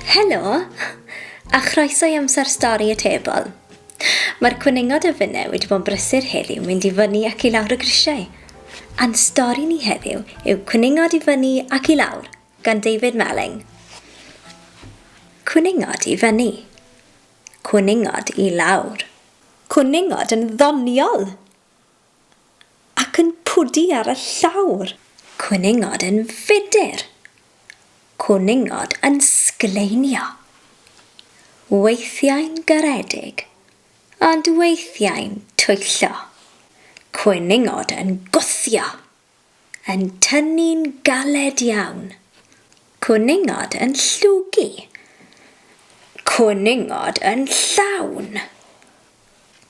Helo, a chroeso i amser stori y tebol. Mae'r cwningod y fyne wedi bod yn brysur heddiw mynd i fyny ac i lawr y grisiau. A'n stori ni heddiw yw cwningod i fyny ac i lawr gan David Melling. Cwningod i fyny. Cwningod i lawr. Cwningod yn ddoniol! Ac yn pwdu ar y llawr. Cwningod yn fudr. Cwningod yn sgleinio. Weithiau'n garedig, ond weithiau'n twyllo. Cwningod yn gwthio. yn tynnu'n galed iawn. Cwningod yn llwgu. Cwningod yn llawn.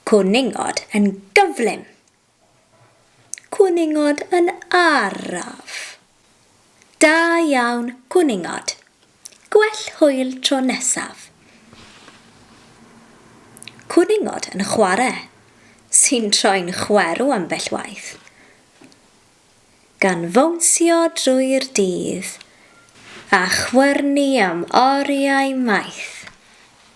Cwningod yn gyflym. Cwningod yn araf. Da iawn, cwningod. Gwell hwyl tro nesaf. Cwningod yn chware, sy'n troi'n chwerw ambell waith, gan fownsio drwy'r dydd a chwyrnu am oriau maith.